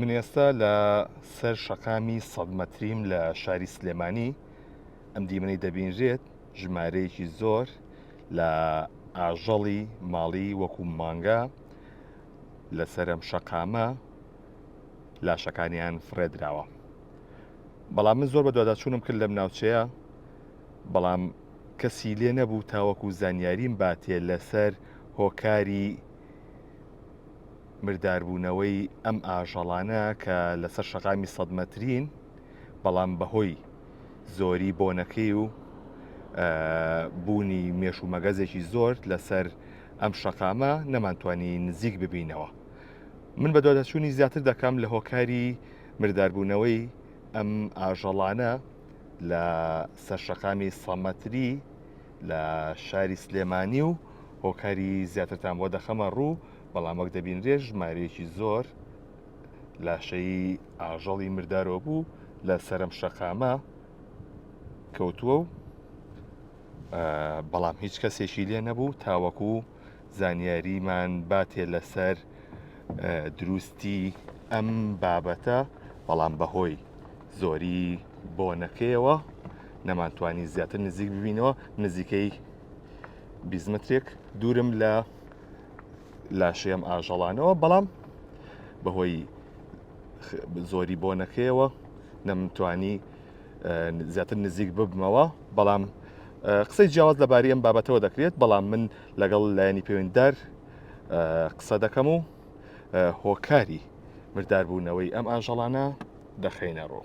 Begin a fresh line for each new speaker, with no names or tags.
من ئێستا لە سەر شەقامی سەد مەتریم لە شاری سلێمانی ئەم دیمەنەی دەبینرێت ژمارەیەکی زۆر لە ئاژەڵی ماڵی وەکو مانگا لەسەرم شەقامە لاشەکانیان فڕێدراوە بەڵام من زۆر بە دوواداچوونم کرد لەم ناوچەیە بەڵام کەسی لێ نەبوو تاوەکو زانیاریم باتێ لەسەر هۆکاری مرداربوونەوەی ئەم ئاژەڵانە کە لەسەر شەقامی سەد مەترین بەڵام بەهۆی زۆری بۆنەکەی و بوونی مێش و مەگەزێکی زۆر لەسەر ئەم شەقامە نەمانتوانی نزیک ببینەوە من بە دۆدەچوونی زیاتر دەکەم لە هۆکاری مرداربوونەوەی ئەم ئاژەڵانە لە سەرشەقامی سەمەتری لە شاری سلێمانی و هۆکاری زیاترتان بۆ دەخەمە ڕوو بەڵام وەک دەبینرێ ژمارەیەکی زۆر لاشەی ئاژەڵی مردارۆ بوو لە سەرم شەقامە کەوتووە و بەڵام هیچ کەسێکی لێ نەبوو تاوەکو زانیاریمان باتێ لەسەر دروستی ئەم بابەتە بەڵام بەهۆی زۆری بۆنەکەیەوە نەمانتوانی زیاتر نزیک ببینەوە نزیکەی بیزمەترێک دوورم لە لاشەیەم ئاژەڵانەوە بەڵام بەهۆی زۆری بۆنەکەیەوە نەمتوانی زیاتر نزیک ببمەوە بەڵام قسەی جیاواز لەباری ئەم بابەتەوە دەکرێت، بەڵام من لەگەڵ لایەنی پەیوەندیدار قسە دەکەم و هۆکاری مرداربوونەوەی ئەم ئاژەڵانە دەخەینە ڕوو.